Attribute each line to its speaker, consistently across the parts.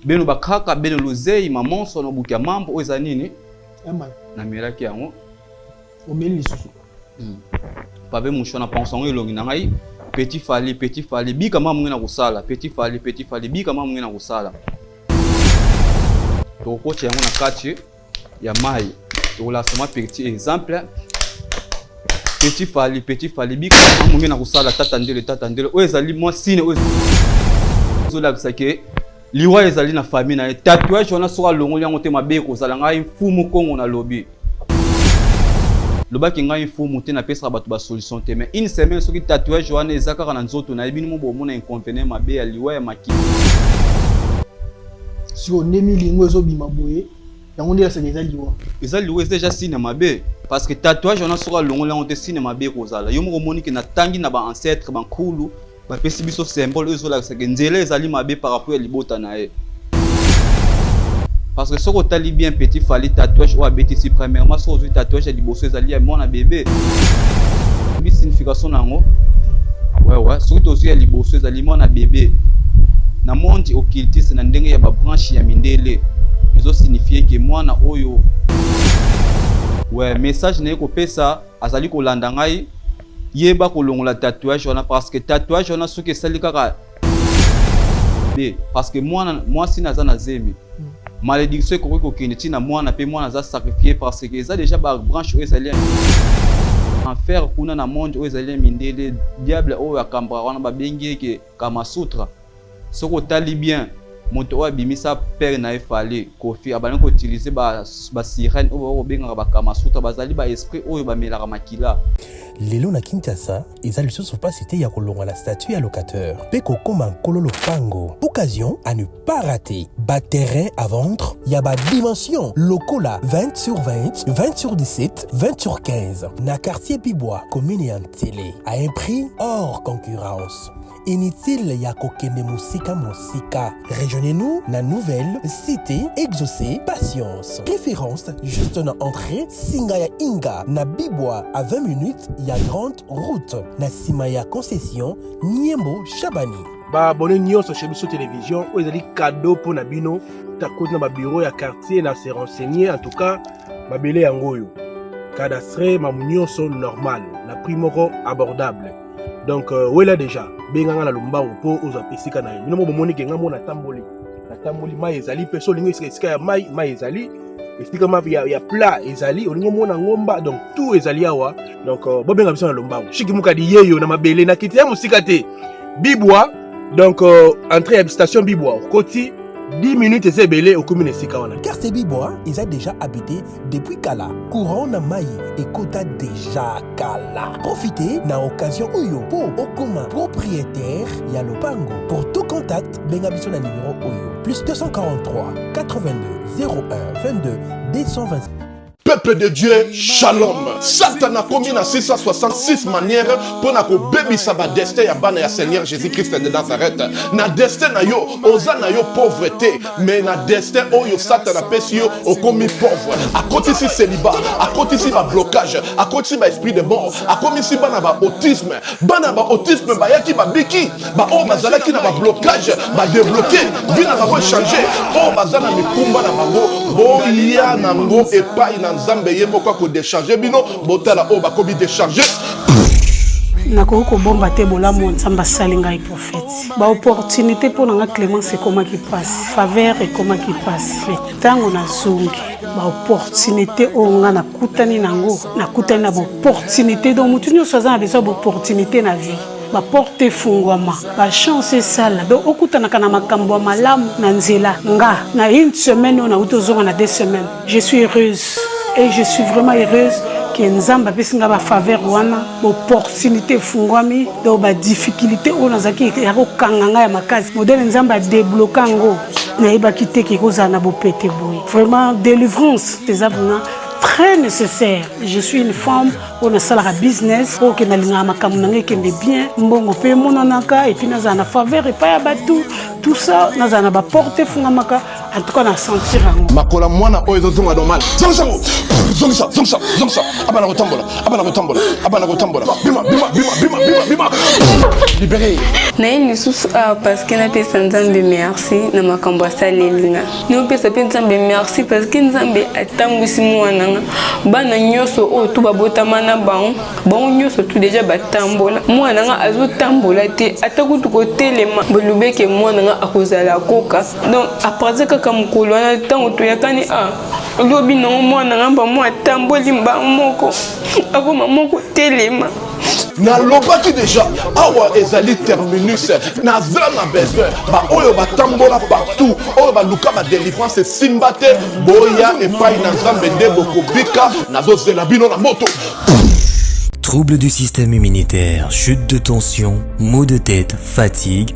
Speaker 1: bino bakaka bino luzei mamonso na buki ya mambo oyo eza nini namelaki yango omeli
Speaker 2: lisusu hmm.
Speaker 1: pabe musho na panso yango elongi na ngai petit fali petit fali bika mama mongi na kosala petit fali petit fali bika mama mongi na kosala tokokotya yango na kati ya mayi tokolakisa mwa petit exemple petit fali petit fali bika amonge na kosala tata ndele tata ndele oyo ezali mwa sine oyo ezolakisa ke liwa ezali na famille na ye tatouage wana soki alongoli yango te mabe ekozala ngai mfumu kongo nalobi lobaki ngai mfumu te napesaka bato basolution te mais une semaine soki tatouage wana eza kaka na nzoto na ye bino mo bomona inconvenient mabe ya liwa ya makili
Speaker 2: sikoyo nde milingo ezobima boye yango nde yasaka eza liwa eza liwa eza
Speaker 1: deja sine mabe parce que tatouage wana soki alongoli yango te sine mabe ekozala yo moko omoni ke natangi na baancetre bankulu bapesi biso symbole oyo ezolakisaka nzela ezali mabe par rapport ya libota na ye parce que soki otali bien petit fali tatouage oyo abetisi premièrement soki ozwi tatouage ya liboso ezali ya mwana bebe oyebi signification na yango wewe soki tozwi ya liboso ezali mwana bebe na monde occultiste na ndenge ya babranche ya mindele ezosignifie ke mwana oyo we message naye kopesa azali kolanda ngai yeba kolongola tatouage wana parce que tatouage wana soki esali kaka te parce que mwana mwasi naza na zemi hmm. malédiction ekoki kokende ntina mwana mpe mwana aza sacrifie parce que eza déjà babranche oyo ezali enfer kuna na monde oyo ezali mindele diable oyo akambaka wana babengi eke kamasutra soki otali bien moto oyo abimisa pere na ye fale kofi abandi koutilize basirene oyo bakobengaka bakamasutra bazali baesprit oyo bamelaka makila lelo na
Speaker 3: kinshasa eza lisusu mpasi te ya kolongwa na statut ya locateur mpe kokoma nkolo lopango occasion à ne pas rater baterrain à vendre ya badimension lokola 20 sur 20 20 sur 17 20 sur 15 na quartier pibwa commune ya ntele à un prix hors concurrence Inutile ya kokende mosika mosika. Rejoignez-nous na nouvelle cité Exaucé Patience. Préférence juste na entrée singa ya Inga na Bibwa à 20 minutes ya grande route na sima ya concession Niembo Shabani. Ba abonné nyonso
Speaker 2: chez biso télévision oyo ezali cadeau mpo na bino takoti na ba bureau ya quartier na se renseigner en tout cas mabele yango oyo cadastre mamu nyonso normal na prix moko abordable donc euh, wela deja benga nga na lombangu mpo ozwa esika na ye bino mo bomoni ke nga mo natamboli natamboli mai ezali mpe so olingi esika esika ya mai mai ezali esika ma ya, ya plat ezali olingi omona ngomba donc tout ezali awa donc euh, bobenga biso na lombangu shiki mukadi yeyo na mabele na kiti ya mosika te bibwa donc euh, entrée ya station bibwa okoti 10 minutes eza ebele okomi na esika wana quartier bibwa eza
Speaker 3: déjà habité Depuis kala, courant na mayi ekota deja kala. Profitez na occasion oyo po okoma propriétaire ya lopango. Pour tout contact, benga biso na numero oyo plus 243 82 01 22 225. peuple de
Speaker 4: dieu shalom satana akomi na 666 manière mpo na kobebisa badestin ya bana ya seigneur jésus christ de nazareth na destin na yo oza na yo pauvre te mais na destin oyo satana apesi yo okomi pauvre akotisi celiba akotisi bablocage akotisi baesprit de mort akomisi bana ba autisme bana ba autisme bayaki babiki baoyo bazalaki na bablocage badebloke vi na bango echange oyo baza na mikumba na bango boya nango epai na nzambe ye moko akodecharge bino botala oyo bakomi decharge
Speaker 5: nakoki kobomba te bolamu nzambe asali ngai baopportunité mpo na nga clémence ekomaki mpasi faveur ekomaki mpasi me ntango nazongi baopportunité oyo nga nakutani nango nakutani na baopportunité donc motu nyonso aza na besoin baopportunité na vie baporte efungwama bachance esala donc okutanaka na makambo ya malamu na nzela nga na une semaine oyo nauti ozonga na deux semaines Je suis heureuse et je suis vraiment heureuse que Nzambe apesi nga ba faveur wana opportunité efungwami donc ba difficulté oyo nazalaki ya kokanga nga ya makasi modele Nzambe adebloka yango nayebaki te ke ekozala na bopete boye vraiment délivrance eza vraiment très nécessaire je suis une femme oyo nasalaka business oyo ke nalingaka makambo na ngai ekende bien mbongo mpe emonanaka epuis nazala na faveur epai ya bato tout ça nazala na baporte efungamaka
Speaker 4: En
Speaker 5: tout cas, na
Speaker 4: sentir
Speaker 5: yango.
Speaker 4: Makola
Speaker 5: mwana
Speaker 4: oyo
Speaker 5: ezozonga normal. Zongisa
Speaker 4: ngo.
Speaker 5: Zongisa, zongisa, zongisa.
Speaker 4: Abana kotambola, abana kotambola, abana kotambola. Bima, bima, bima, bima, bima, bima. Libéré. Naye lisusu
Speaker 6: awa ah, parce que napesa Nzambe merci na makambo asaleli nga. Napesa mpe Nzambe merci parce que Nzambe atambwisi mwana nga. Bana nyonso oyo tu babotama na bango, bango nyonso tu deja batambola. Mwana nga azotambola te, ata kutu kotelema. Bolobeke mwana nga akozala koka donc aparte kaka mokolo wana ntango toyakani a ah, lobi nango mwana nga mba mwa atamboli mbango moko akoma moko telema nalobaki
Speaker 4: deja awa ezali terminus naza na besoin baoyo batambola partout oyo baluka badelivrance esimba te boya epai na nzambe nde bokobika nazozela bino na moto
Speaker 7: Trouble du système immunitaire, chute de tension, maux de tête, fatigue,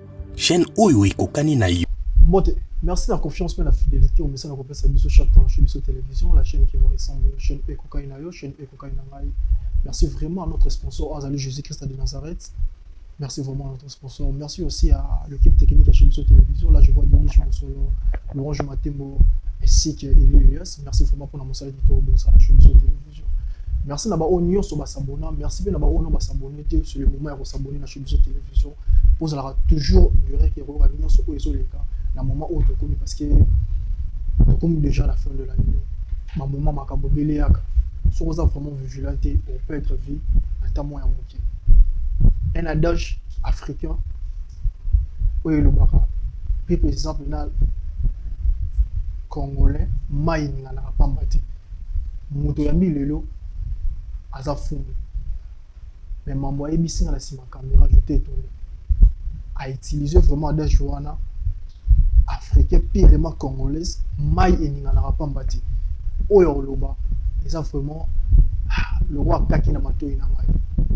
Speaker 3: Chaîne oyo ekokani na yo. Mbote, merci
Speaker 8: na confiance mpe na fidelité omesana kopesa biso chaque temps chez biso télévision, la chaîne qui vous ressemble, chaîne oyo ekokani na yo, chaîne oyo ekokani na ngai. Merci vraiment à notre sponsor azali Jésus-Christ de Nazareth. Merci vraiment à notre sponsor. Merci aussi à l'équipe technique à Chimiso Télévision. Là, je vois Denis Chimosolo, Laurent Jumatembo, ainsi que Elias. Merci vraiment pour la monsalité de Chimiso Télévision. Merci na ba oyo nyonso ba s'abonna, merci pe na ba oyo ba s'abonner te, c'est le moment ya ko s'abonner na Shobizo Television. Bozalaka toujours direct ya koyoka nyonso oyo ezoleka na moment oyo tokomi parce que tokomi déjà la fin de l'année. Ba moment makambo ebele yaka. Soki oza vraiment vigilant te, au perdre vie ata moya moke. Un adage africain oyo elobaka pe par exemple na congolais mai eninganaka pamba te moto oyambi lelo aza fumbu me mambo ayebisi nga na nsima camera je t'ai étonné a utiliser vraiment adage wana africain pirement congolaise mai eninganaka mpamba te oyo akoloba eza vraiment ah, loko akaki na matoi na ngai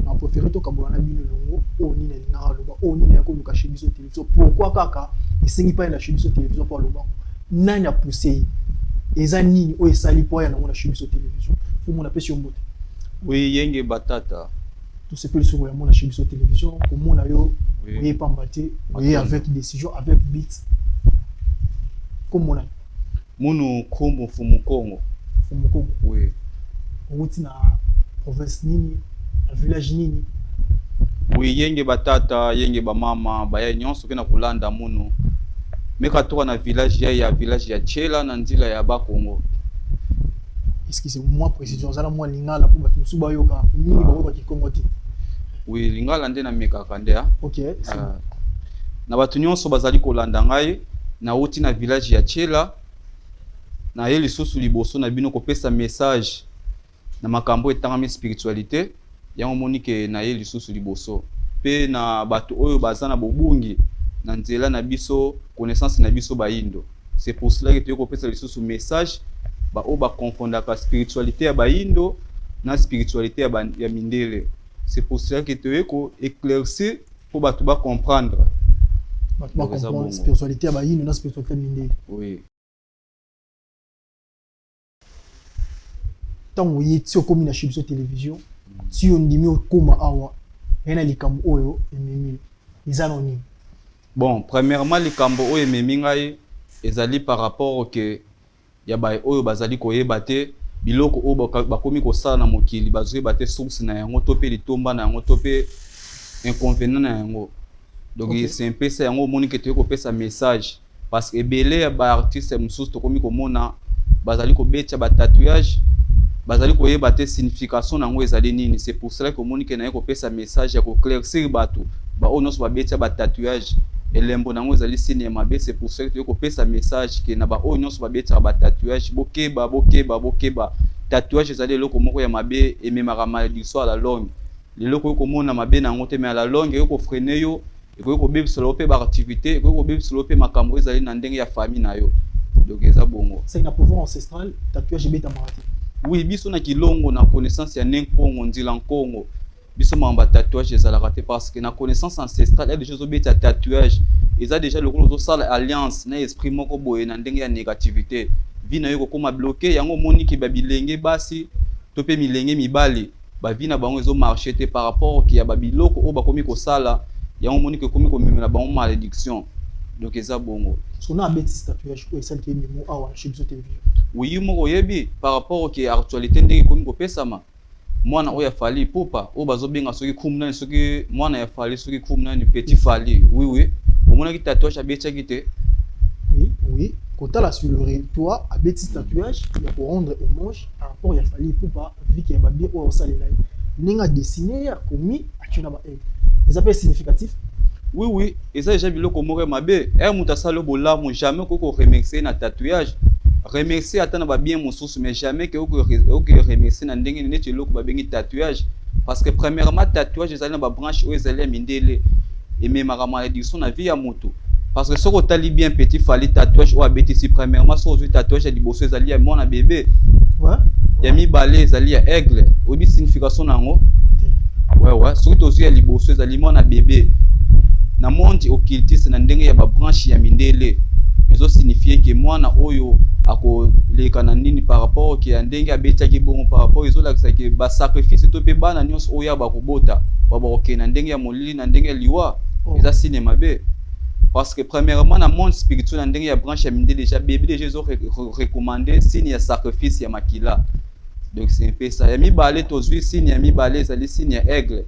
Speaker 8: na préféré tokabola na bino elongo oyo nini alingaka aloba oyo nini akoluka chez biso te so pourquoi kaka esengi mpai na biso télévision mpo aloba nani apuse ye eza nini oyo esali mpo aya nango na biso télévision fumu napesi yo mbote oui yenge
Speaker 1: batata tosepeli
Speaker 8: soki oya mona biso télévision komona yo oye pamba te oye avec décision avec bit komona Munu
Speaker 1: Kumbu Mfumu Kongo. Mfumu Kongo. Oui. Owuti
Speaker 8: na province nini? Na village nini? Oui,
Speaker 1: yenge ba tata, yenge ba mama, baye nyonso kena kolanda munu. Meka toka na village ya ya village ya Chela na nzila ya ba Kongo.
Speaker 8: Excusez moi précision, ozala mwa lingala mpo bato mosusu bayoka mingi bakoyoka kikongo te. Oui, lingala
Speaker 1: nde na mekaka nde. Okay. Uh, na bato nyonso bazali kolanda ngai Nauti na village ya Tshela, naye lisusu liboso na bino kopesa message na makambo etangami spiritualite. Yango moni ke naye lisusu liboso pe na bato oyo baza na bobungi na nzela na biso connaissance na biso bayindo. C'est pour cela que toye kopesa lisusu message ba oyo ba confondaka spiritualite ya bayindo na spiritualite ya, ba, ya mindele. C'est pour cela que toye ko éclaircir Pour batu ba comprendre. Ba comprendre spiritualité
Speaker 8: ya ba yinu na spiritualité ya mindele. Oui. ntango oye ti okomi na chez biso télévision ti ondimi okoma awa ngai na likambo oyo ememi eza na nini bon
Speaker 1: premièrement likambo oyo ememi ngai ezali par rapport ke ya baye oyo bazali koyeba te biloko oyo bakomi kosala na mokili, bazoyeba te source na yango to pe litomba na yango to pe inconvenant na yango. Donc okay. c'est un peu ça yango omoni ke toye kopesa message parce que ebele ya ba artiste mosusu tokomi komona bazali kobetya ba tatouage bazali koyeba te signification na yango ezali nini c'est pour cela que omoni ke naye kopesa message ya koclaircir bato Ba oyo nyonso babetia ba tatouage elembo nango ezali signe ya mabe c'est pour cela toyei kopesa message ke na ba oyo nyonso babetaka ba tatouage bokeba bokeba bokeba tatouage ezali eloko moko ya mabe ememaka maledictio ya la longue lelo okoki komona mabe na yango te mais à la longue ekoki kofrene yo ekoki kobebisela yo mpe baactivité ekoki kobebisela yo mpe makambo ezali na ndenge ya famille na yo donc eza bongo c'est na pouvoir ancestral
Speaker 8: tatouage ebetamaka te oui biso na
Speaker 1: kilongo na connaissance ya ne nkongo nzila nkongo biso mama ba tatouage ezalaka te parce que na connaissance ancestrale ya déjà ozobeta tatouage eza déjà lokola ozosala alliance na esprit moko boye na ndenge ya négativité vie na yo ekokoma bloke yango omoni ke babilenge basi to mpe milenge mibali bavi na bango ezomarche te par rapport ke ya babiloko oyo bakomi kosala yango omoni ke ekomi komemela bango malédiction donc eza bongo sona abeti statut
Speaker 8: ya shiko esaliki ye mimo awa chez biso television oyi moko oyebi
Speaker 1: par rapport ke actualité ndenge ekomi kopesama Mwana oyo ya Fally Ipupa oyo bazo benga soki krum nani soki mwana ya Fally soki krum nani petit Fally oui oui omonaki tatouage abetiaki te oui oui
Speaker 8: kotala sur le territoire abeti tatouage ya ko rendre hommage par rapport ya Fally Ipupa viki ya babie oyo asalela ye ndenge a dessiner akomi atye na ba eza mpe significatif oui oui
Speaker 1: eza deja biloko moko ya mabe ere moto asali bolamu jamais okoki koremercie na tatouage remercie ata na babien mosusu mais jamais ke okoki remercie na ndenge neti eloko babengi tatouage parce que premièrement tatouage ezali na babranche oyo ezali ya mindele ememaka maladiction na vie ya moto parce que soki otali bien petit fali tatouage oyo abetisi premièrement soki ozwi tatouage ya liboso ezali ya mwana bebe ya mibale ezali ya aigle oyebi signification na yango wewe soki tozwi ya liboso ezali mwana bebe na monde occultiste na ndenge ya babranche ya mindele ezo signifie ke mwana oyo akoleka na nini par rapport ke ya ndenge abetiaki bongo par rapport ezolakisa ke basacrifice to mpe bana nyonso oyo bakobota bakokende na ndenge ya molili na ndenge ya liwa oh. eza sine mabe parce que premièrement na monde spirituel na ndenge ya branche ya minde déjà bebe déjà ezo recommande signe ya sacrifice ya makila donc c'est un peu ça ya mibale tozwi signe ya mibale ezali signe ya aigle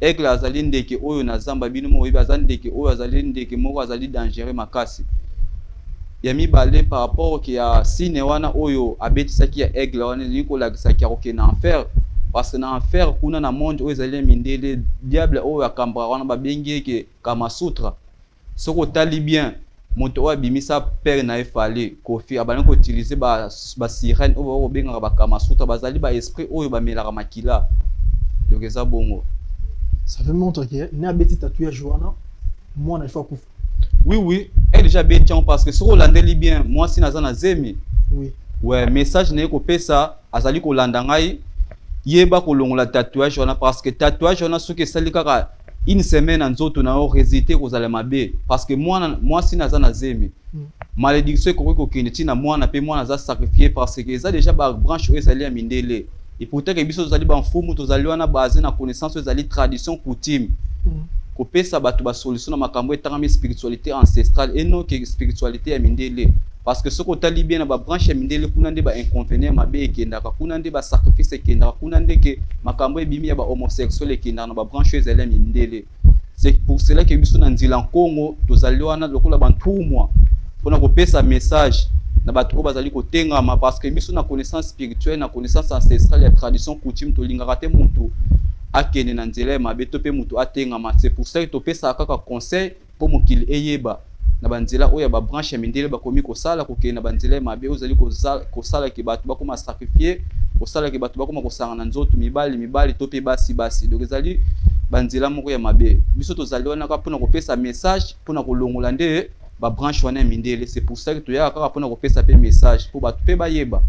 Speaker 1: aigle azali ndeke oyo na zamba bino moko oyebi aza ndeke oyo azali ndeke moko azali dangereux makasi Ya mibale par rapport que ya sine wana oyo abetisaki ya aigle wana elingi kolakisa que akokende na enfer parce que na enfer kuna na monde oyo ezali ya mindele diable oyo akambaka wana babengi ye ke kamasutra soki otali bien moto oyo abimisa père na ye fale kofi abandi koutilize basirene ba oyo bako kobengaka bakamasutra bazali ba esprit oyo bamelaka makila donc eza bongo ça veut
Speaker 8: montre que na abeti tatouage wana mwana il faut akufa Oui oui, elle
Speaker 1: déjà bien tiens parce que soko landeli bien, moi si naza na zemi. Oui. Ouais,
Speaker 8: message
Speaker 1: na ko pesa azali ko landa ngai yeba ko longola tatouage wana parce que tatouage wana soki esali kaka une semaine en nzoto na yo résultat ekozala mabe parce que mwana mwasi naza na zemi mm. malédiction ekoki kokende ntina mwana mpe mwana aza sacrifie parce que eza déjà babranche oyo ezali ya mindele Et pourtant que biso tozali ba mfumu tozali wana basé na connaissance ezali tradition coutume. Mm. Kopesa bato ba solution na makambo etangami spiritualité ancestrale et non que spiritualité ya mindele. Parce que soki otali bien na ba branche ya mindele kuna nde ba inconvénients mabe ekendaka kuna nde ba sacrifice ekendaka kuna nde ke makambo ebimi ya ba homosexuel ekendaka na ba branche oyo ezali ya mindele. C'est pour cela que biso na nzila Nkongo tozali wana lokola bantumwa mpona kopesa message na bato oyo bazali kotengama parce que biso na connaissance spirituelle na connaissance ancestrale ya tradition coutume tolingaka te moto akende na nzela ya mabe to mpe moto atengama c'est pour ça que topesaka kaka conseil mpo mokili eyeba na banzela oyo ya babranche ya mindele bakomi kosala kokende na banzela ya mabe ozali kosalaki bato bakoma sacrifie kosalaki bato bakoma kosangana nzoto mibali mibali to mpe basi basi donc ezali banzela moko ya mabe biso tozali wana kaka mpona kopesa message mpona kolongola nde babranche wana ya mindele c'est pour ça que toyaka kaka mpona kopesa mpe message mpo bato mpe bayeba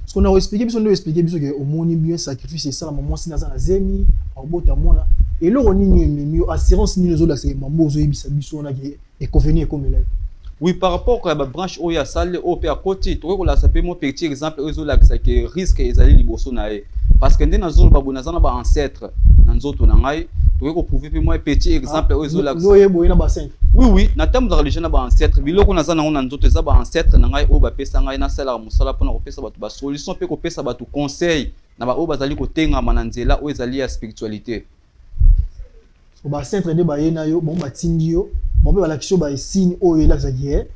Speaker 1: sikoyo na koexplike
Speaker 8: biso nde oexplike biso ke omoni bien sacrifice esalama mwasi naza na zemi obota mwana eloko nini ememi yo assurance nini ozolakisa ye mambo ozoyebisa biso wana ke ekofeni ekomela ye oui par rapport
Speaker 1: ya babranche oyo asali oyo mpe akoti tokoki kolakisa mpe mo petit exemple oyo ezolakisa ke risque ezali liboso na ye parce que nde nazoloba boye naza na ba ancêtre na nzoto na ngai tokoki koprouve mpe mwa petit exemple oyo ezolakisaoye boye na basene
Speaker 8: oui oui natambuzaka
Speaker 1: deja na ba ancêtre biloko naza nango na nzoto eza ba ancêtre na ngai oyo bapesa ngai nasalaka mosala mpona kopesa bato basolution mpe kopesa bato conseil na baoyo bazali kotengama na nzela oyo ezali ya spiritualite
Speaker 8: bacentre nde baye na yo bango batindi yo bango mpe balakisi yo baesigne oyo elakisa ki eh,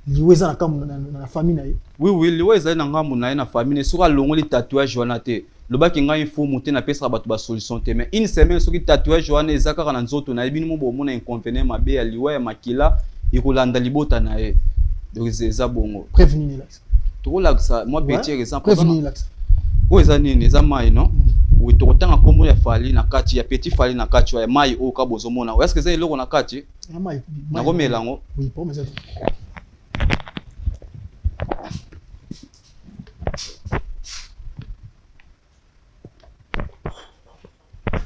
Speaker 8: liwa eza na kambo na
Speaker 1: famille na ye oui oui liwa
Speaker 8: ezali
Speaker 1: na ngambo
Speaker 8: na ye
Speaker 1: na famille
Speaker 8: na ye
Speaker 1: soki alongoli tatouage wana
Speaker 8: te
Speaker 1: lobaki ngai mfumu te napesaka bato basolution te mais une semaine soki tatouage wana eza kaka na nzoto na ye bino mo bomona inconvenient mabe ya liwa ya makila ekolanda libota na ye donc eza bongo preuve nini elakisa
Speaker 8: tokolakisa mwa
Speaker 1: betiere eza oyo
Speaker 8: eza nini
Speaker 1: eza mai no mm. tokotanga nkombo ya fali na kati ya petit fali na kati ya mai oyo ka bozomona oyo eske eza eloko na kati
Speaker 8: nakomela yango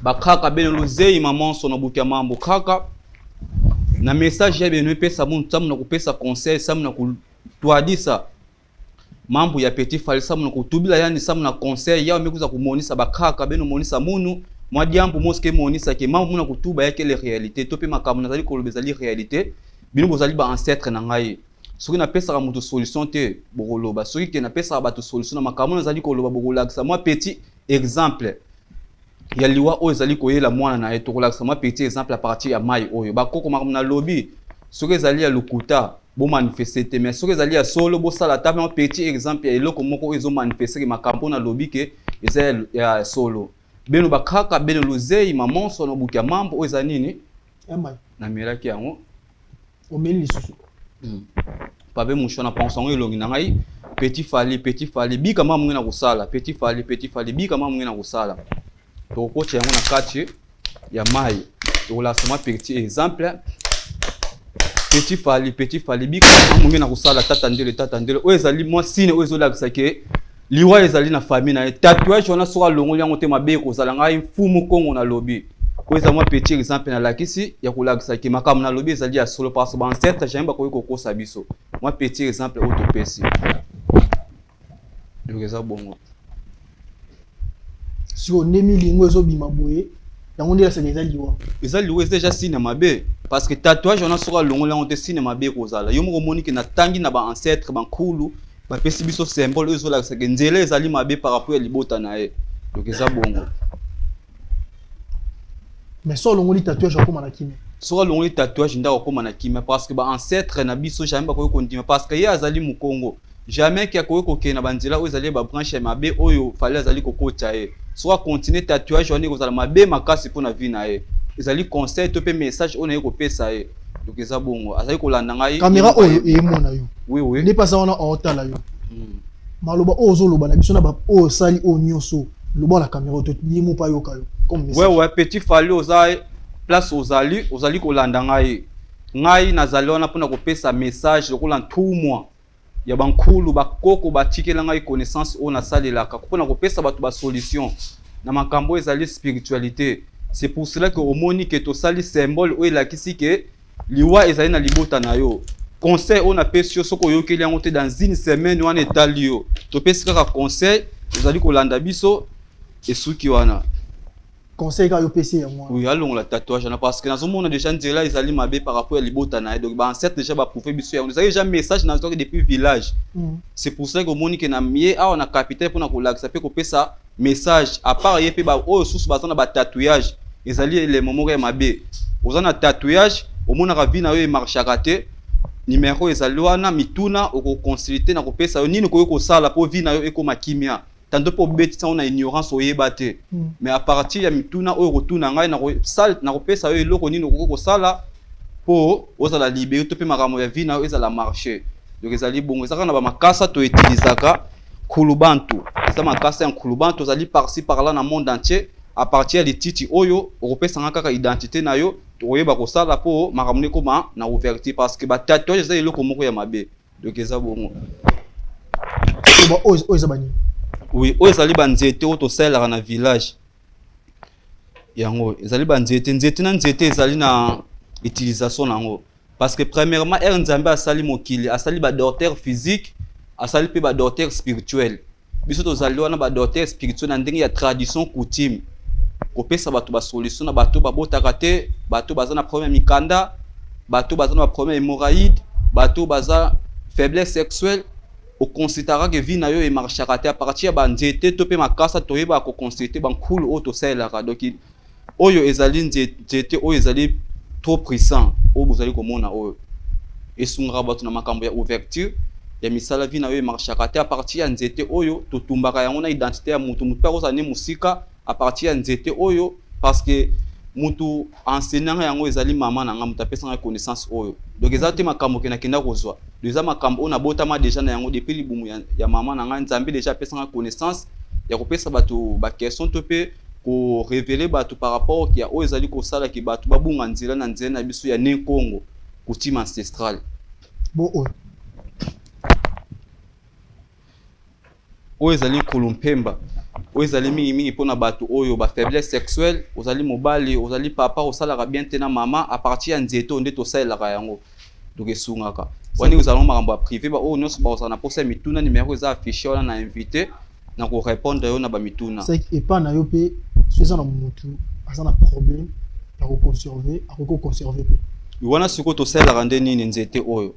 Speaker 1: Bakraka bene luzeyi mamanso na butu ya mambo kraka na message ya bene epesa muntu samu na kopesa conseil samu na kutwadisa mambo ya petit fali samu na kutubila yani samu na conseil yao mekuza kumonisa bakraka bene omonisa munu mwa diambu moske emonisa ke mambo muna kutuba yake le realite to mpe makambo nazali koloba ezali realite bino bozali ba ancêtre na ngai soki napesaka moto solution te bokoloba soki ke napesaka bato solution na makambo nazali koloba bokolakisa mwa petit exemple ya liwa oyo ezali koyela mwana na ye tokolakisa mwa petit exemple à partir ya mai oyo bakoko makambo na lobi soki ezali ya lokuta bomanifeste te mais soki ezali ya solo bosala ata mwa petit exemple ya eloko moko oyo ezomanifeste ke makambo oyo nalobi ke eza ya, ya solo bino bakaka bino luzei mamonso na buki ya mambo oyo eza nini
Speaker 8: namelaki yango
Speaker 1: omeli
Speaker 8: lisusu hmm.
Speaker 1: pabe mushwa na pangusa yango elongi na ngai petit fali petit fali bika mama monge na kosala petit fali petit fali bika mama monge na kosala tokokotya yango na kati ya mai tokolakisa mwa petit exemple petit fali petit fali bika mama monge na kosala tata ndele tata ndele oyo ezali mwa sine oyo ezolakisa ke liwa ezali na famille na ye tatouage wana soki alongoli yango te mabe ekozala ngai mfumu kongo nalobi oyo eza mwa petit exemple nalakisi ya kolakisa ke makambo nalobi ezali ya solo parce baancetre jamai bakoki kokosa biso mwa petit exemple oyo topesi donc eza bongo
Speaker 8: sikoyo nde milingo ezobima boye yango nde yasaka eza liwa eza liwa eza deja sine mabe
Speaker 1: parce que tatouage wana soki alongoli yango te sine mabe ekozala yo moko omoni ke natangi na baancetre bankulu bapesi biso symbole oyo ezolakisa ke nzela ezali mabe par rapport ya libota na ye donc eza bongo
Speaker 8: mais so olongoli tatouage akoma na kimia soki alongoli tatouage
Speaker 1: nde akokoma na kimia parce que baancetre na biso jamais bakoki kondima parce que ye azali mokongo jamais ke akoki kokende na banzela oyo ezali babranche ya mabe oyo fali azali kokotya ye soki akontinue tatouage wana ekozala mabe makasi mpo na vie na ye ezali conseil to mpe message oyo na ye kopesa ye donc eza bongo azali kolanda ngai kamera oyo eyemona
Speaker 8: yo oui, oui. nde mpasa wana
Speaker 1: aotala
Speaker 8: yo mm. maloba oyo ozoloba na biso na baoyo osali oyo nyonso loba na kamera oyo ye moko ayoka yo wewe petit fali oza
Speaker 1: place ozali ozali kolanda ngai ngai nazali wana mpona kopesa message lokola ntumwa ya bankulu bakoko batikela ngai connaissance oyo nasalelaka mpo na kopesa bato basolution na makambo oyo ezali spiritualité c'est pour cela que omoni ke tosali symbole oyo elakisi ke liwa ezali na libota na yo conseil oyo napesi yo soki oyokeli yango te dans une semaine wana etali yo topesi kaka conseil ozali kolanda biso esuki wana conseil
Speaker 8: kaka yo pesi yango wana oui alongola tatouage wana
Speaker 1: parce que nazomona déjà nzela ezali mabe par rapport ya libota na ye donc baancêtre déjà baprouve biso yango ezalaki déjà message nazwaki depuis village mm. c'est pour ça komoni ke na ye awa na capitale mpona kolakisa mpe kopesa message à part ye mpe baoyo susu baza na batatouage ezali elemo moko ya mabe oza na tatouage omonaka vie na yo emarchaka te nimero ezali wana mituna okoconsulte na kopesa yo nini okoki kosala mpo vie na yo ekoma kimia tantôt mpo obetisa yango na ignorance oyeba te mm. mais à partir ya mituna oyo okotuna ngai nakopesa yo eloko nini okoki kosala mpo ozala libere to mpe makambo ya vie na yo ezala marché donc ezali bongo ezaka na bamakasa toutilisaka nkulubantu eza makasa ya nkulubantu tozali parci parla na monde entier à partir ya lititi oyo okopesa nga kaka identité na yo tokoyeba kosala mpo makambo na ekoma na ouverture parce que batatouage eza eloko moko ya mabe Donc eza bongo.
Speaker 8: Ba oyo oyo eza bani? Oui, oyo ezali
Speaker 1: ba nzete oyo tosalelaka na village. Yango ezali ba nzete, nzete na nzete ezali na utilisation nango. Parce que premièrement, Ernzambe asali mokili, asali ba docteurs physiques, asali pe ba docteurs spirituels. biso tozali wana ba docteur spirituel na ndenge ya tradition coutume kopesa bato basolution na bato babotaka te bato baza na problème ya mikanda bato baza na baproblème ya hémorraïde bato baza faiblesse sexuelle oconsultaka ke vie na yo emarchaka te apartir ya banzete to mpe makasa toyebaka koconsulte bankulu oyo tosalelaka doki oyo ezali nzete oyo ezali trop puissant oyo bozali komona oyo esungaka bato na makambo ya ouverture ya misala vi na yo emarchaka te apartir ya nzete oyo totumbaka yango na identité ya motu motu mpe akozala ne mosika apartir ya nzete oyo parce que mutu enseigne nga yango ezali mama na nga mutu apesa nga connaissance oyo donc eza te makambo ke nakenda kozwa donc eza makambo oyo nabotama deja na yango depuis libumu ya, ya mama na nga nzambe deja apesa nga connaissance ya kopesa bato baquestion to mpe ko reveler batu par rapport ya oyo ezali kosala ke batu babunga nzela na nzela na biso ya ne Kongo, coutume ancestrale. Bo oyo. Oyo ezali nkulu mpemba oyo ezali mingimingi mpo na bato oyo ba faiblesse sexuelle ozali mobali ozali papa osalaka bien te na mama apartir ya nzete oyo nde tosalelaka yango donc esungaka wani ozalaka makambo ya privé baoyo oh, nyonso bakozala na mposa ya mituna numero eza affiche wana na invité na korépondre yo na bamituna epa na yo mpe
Speaker 8: soki eza na motu aza na problème ya koconserve akoki koconserve mpe wana sikoyo tosalelaka
Speaker 1: nde nini nzete oyo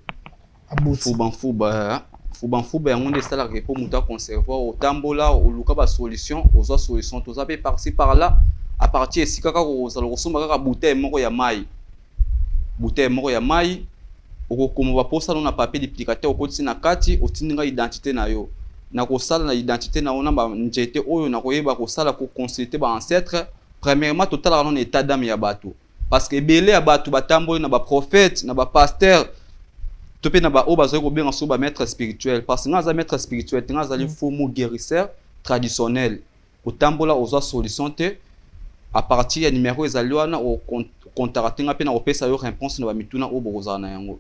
Speaker 8: fubanfuba
Speaker 1: fubanfuba yango nde esalaka mpo moto aconserve otambola oluka basolution ozwa solution toza mpe parci par là apartir esika kaka ozala kosomba kaka bouteille moko ya mai bouteille moko ya mayi okokoma baposa no na papier duplicateur okotisi na kati otindi ngai identité na yo nakosala na identité na yo na banjete oyo nakoyeba kosala koconsulte ba ancêtre premièrement totalaka no na état d'âme ya bato parce que ebele ya bato batamboli na baprophète na bapasteur to mpe na baoyo bazali kobenga so bamaître spirituel parce que ngai aza maître spirituel te ngai azali mm. faux mot guérisseur traditionnel Otambola ozwa solution te a partir ya numero ezali wana o contacte nga mpe nakopesa yo reponse na bamituna oyo bokozala na yango.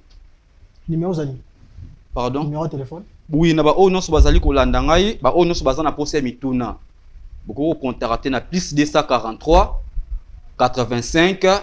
Speaker 1: Numero ezali?
Speaker 8: Pardon?
Speaker 1: Numero ya telefone?
Speaker 8: Oui, na baoyo nyonso
Speaker 1: bazali kolanda ngai, baoyo nyonso baza na mposa ya mituna bokoki kocontacte na plus 243 85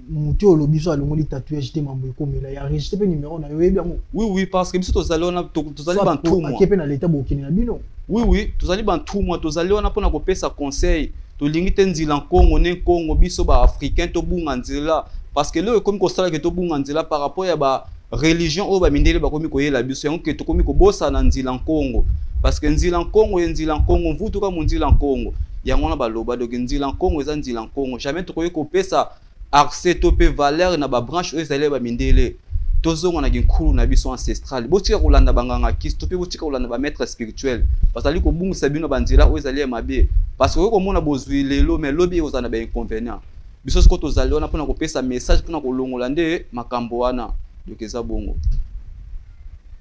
Speaker 8: moto oyo olobi so alongoli tatouage te mambo ekomela ya registre mpe numero na yo oyebi yango oui oui parce que biso tozali
Speaker 1: wana tozali bantumwake mpe na leta bokende
Speaker 8: na bino oui oui tozali
Speaker 1: bantumwa tozali wana mpona kopesa conseil tolingi te nzila nkongo ne nkongo biso baafricain tobunga nzela parce que leo ekomi kosalaki tobunga nzela par rapport ya ba religion oyo bamindele bakomi koyela biso yango ke tokomi kobosana nzila nkongo parce que nzila nkongo ye nzila nkongo mvutu ka monzila nkongo yango wana baloba doki nzila nkongo eza nzila nkongo jamais tokoki kopesa accès to mpe valeur na babranche oyo ezali ya bamindele tozonga na kinkulu na biso ancestral botika kolanda banganga kisi to mpe botika kolanda bamaître spirituel bazali kobungisa bino na banzela oyo ezali ya mabe parce que okoki komona bozwi lelo mais lobi ekozala na bainconvénient Biso siko tozali wana mpona kopesa message mpona kolongola nde makambo wana donc eza bongo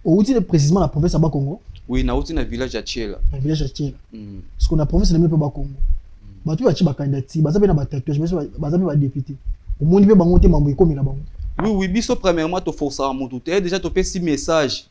Speaker 8: outi ne précisément na province ya bakongo oui nauti na village
Speaker 1: ya chiela na village ya chiela
Speaker 8: mm. siko na province na mio mpe bakongo mm. bato oyo batie bakandidati baza mpe na batatouage baza mpe badepute omoni mpe bango te mambo ekomela bango oui oui biso
Speaker 1: premièrement toforcaka motu te déjà topesi message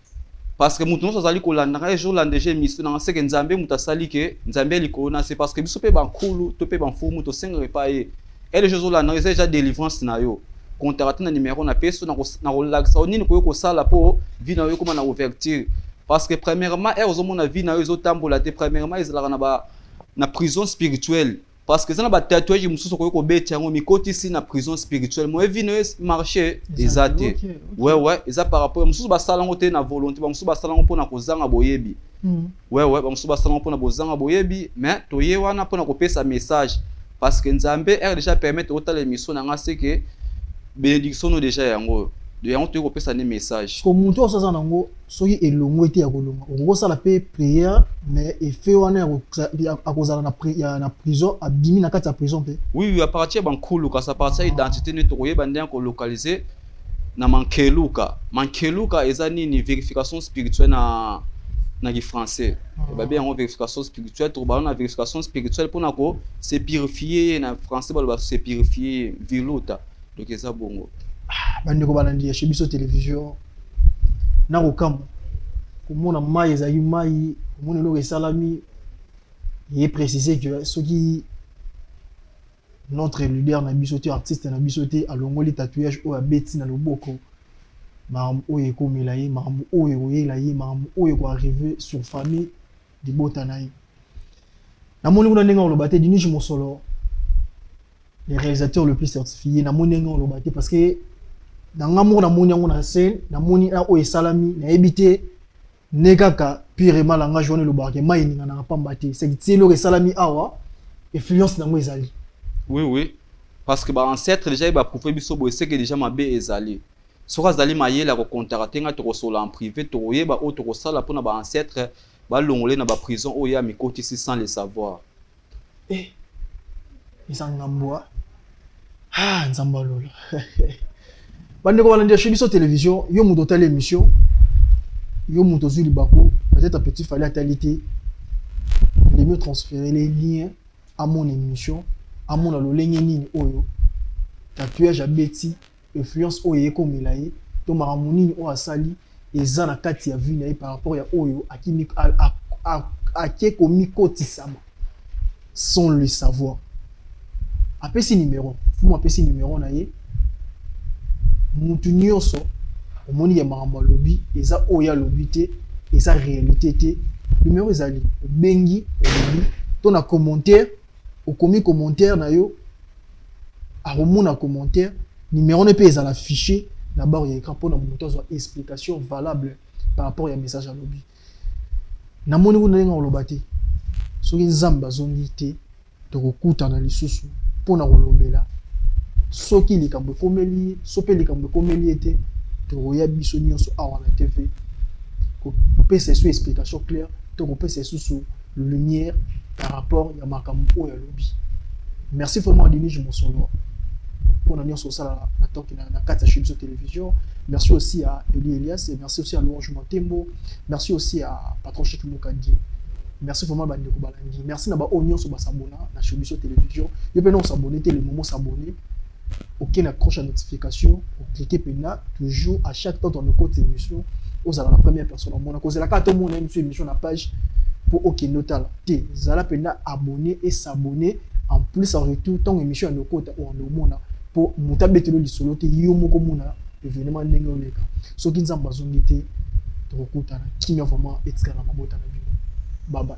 Speaker 1: parce que moto nyonso azali kolanda ngai ezolanda eje émission nanga seke nzambe moto asali ke nzambe ya likolo na se parce que biso mpe bankulu to mpe bamfumu tosengaka epai ye ele eje ozolanda eza eja délivrance na yo contacte na numero na peso nakolakisa yo nini koki kosala mpo vie na yo ekóma na ouverture parce que premièrement ere ozomona vie na yo ezotambola te premièrement ezalaka na, ba, na prison spirituelle parce que eza na batatuage mosusu okoki kobeti yango mikotisi na prison spirituelle moye vino ye marché eza te wewe eza par rapport mosusu basala yango te na volonté bamosusu basala yango mpona kozanga boyebi wewe hmm. bamosusu basala yango mpona bozanga boyebi mais toye wana mpona kopesa message parce que nzambe ere déjà permettre otala émission na nga seke bénédiction no déjà yango oyo de yango toyei kopesa nde message ko moto oyo aza nango
Speaker 8: soki elongwe te ya kolonga okoki osala mpe prière mais effet wana akozala na prison abimi na kati ya prison mpe oui oui aparti ya bankulu
Speaker 1: kasi aparti ya identité nde tokoyeba ndenge kolocalize na mankeluka mankeluka eza nini verification spirituelle na na kifrançais ah. babe yango verification spirituelle tokobala na verification spirituelle mpona ko se purifie ye na français baloba se purifie ye viluta donc eza bongo ah, bandeko balandi
Speaker 8: ya chez biso télévision na kokamwa komona mai ezali mai omona eloko esalami ye précise que soki notre leader na biso te artiste na biso te alongoli tatouage oyo abeti na loboko makambo oyo ekomela ye makambo oyo ekoyela ye makambo oyo ekoarrive sur famille libota na ye. Namoni kuna ndenge oloba te Dinush Mosolo le réalisateur le plus certifié namoni ndenge oloba te parce que na nga moko namoni yango na scène namoni na oyo esalami nayebi te ne kaka purement langage wana elobaka ke mai eninganaka pamba te seki ti eloko esalami awa influence na yango ezali oui oui
Speaker 1: parce que ba ancêtre déjà ye baprouve biso boye seke déjà mabe ezali Soki azali mayele ako contacter nga tokosolola en prive tokoyeba oyo tokosala pona ba ancetres balongola ye na ba prison oyo ye amikotisi sans le savoir. Eh,
Speaker 8: eza nga mbwa. Ah, Nzambe ya lola. Bandeko balandi ya chez biso television, yo moto otali emission, yo moto ozwi libaku, peut-être un petit fallait atali te, il est mieux transférer les liens à mon émission, à mon lolenge nini oyo, tatouage abeti, influence oyo ekomela ye to makambo nini oyo asali eza na kati ya vie na ye par rapport ya oyo ake komikotisama sans le savoir apesi numero fumu apesi numero na ye mutu nyonso omoni ya makambo alobi eza oyo alobi te eza réalité te numero ezali obengi olobi to na commentaire okomi commentaire na yo akomona commentaire numero ne mpe ezala fichier na baro ya écran mpo na moto azwa explication valable par rapport ya message alobi namoni kuna ndenge oloba te soki nzambe azongi te tokokutana lisusu mpo na kolobela soki likambo ekomeli ye so mpe likambo ekomeli ye te tokoya biso nyonso awa na tv kopesa esu explication claire to kopesa esusu lumière par rapport ya makambo oyo alobi merci vraiment adenige mosolo mpona nyonso osalaka na toki na kati ya shibso télévision merci aussi à eli elias et merci aussi à louange motembo merci aussi à patron chik mokadi merci vraiment bandeko balandi merci na baoyo nyonso basabona na shibso télévision yo mpe na osabone te le momo sabone oke na croche ya notification oclike mpena toujours à chaque temps tona okoti émission ozala na première personne omona kozela kaka tomona émission émission na page mpo okende otala te zala mpena abonné et s'abonner en plus en retour ntango émission ya nokota oanda omona mpo moto abetelo lisolo te yo moko omona événement ndenge oleka soki nzambe azongi te tokokutana kimia vraiment etikala na mabota na bino babai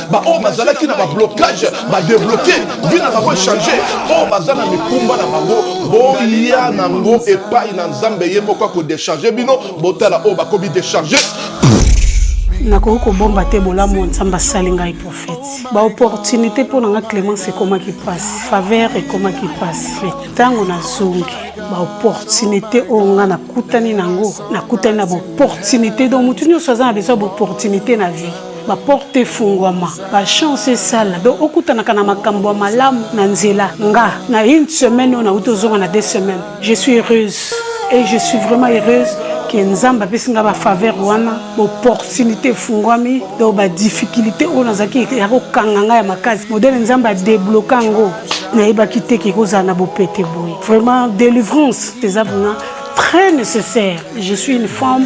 Speaker 4: baoyo bazalaki na bablocage badebloke vi na bango echange oyo baza na mikumba na bango boya nango epai na nzambe ye moko akodecharge bino botala oyo bakomi decharge
Speaker 5: nakoki kobomba te bolamu ya nzambe asali ngai profeti baopportunité mpo na ngai clémence ekomaki mpasi faveur ekomaki mpasi me ntango nazongi baopportunité oyo ngai nakutani na yango nakutani na baopportunité donc motu nyonso aza na besoin baopportunité na vie ba porte efungwama ba chance esala donc okutanaka na makambo ya malamu na nzela nga na une semaine oyo nauti ozonga na deux semaines je suis heureuse et je suis vraiment heureuse ke nzambe apesi nga bafaveur wana baopportunité efungwami donc badifficulté oyo nazalaki ya kokanga ngai ya makasi modele nzambe adebloka yango nayebaki te ke ekozala na bopete boye vraiment délivrance eza vraiment très nécessaire je suis une femme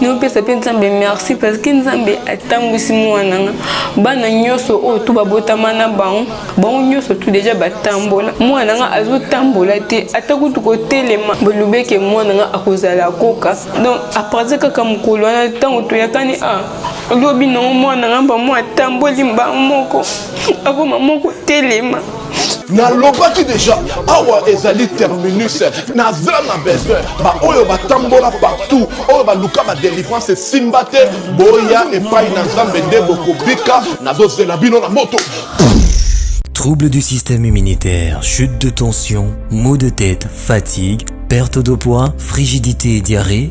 Speaker 6: nopesa mpe nzambe merci parce que nzambe atambwisi mwana nga bana nyonso oyo tu babotama na bango bango nyonso tu deja batambola mwana nga azotambola te ata kutu kotelema bolobeke mwana nga akozala koka donc apartir kaka mokolo wana ntango toyakani a ah, lobi nango mwana nga bamwa atamboli mbango moko akoma moko telema nalobaki
Speaker 4: deja awa ezali terminus naza na besoin baoyo batambola partout oyo baluka badelivrance esimba te boya epai na nzambe nde bokobika nazozela bino na moto
Speaker 7: Troubles du système immunitaire, chute de tension, maux de tête, fatigue, perte de poids, frigidité et diarrhée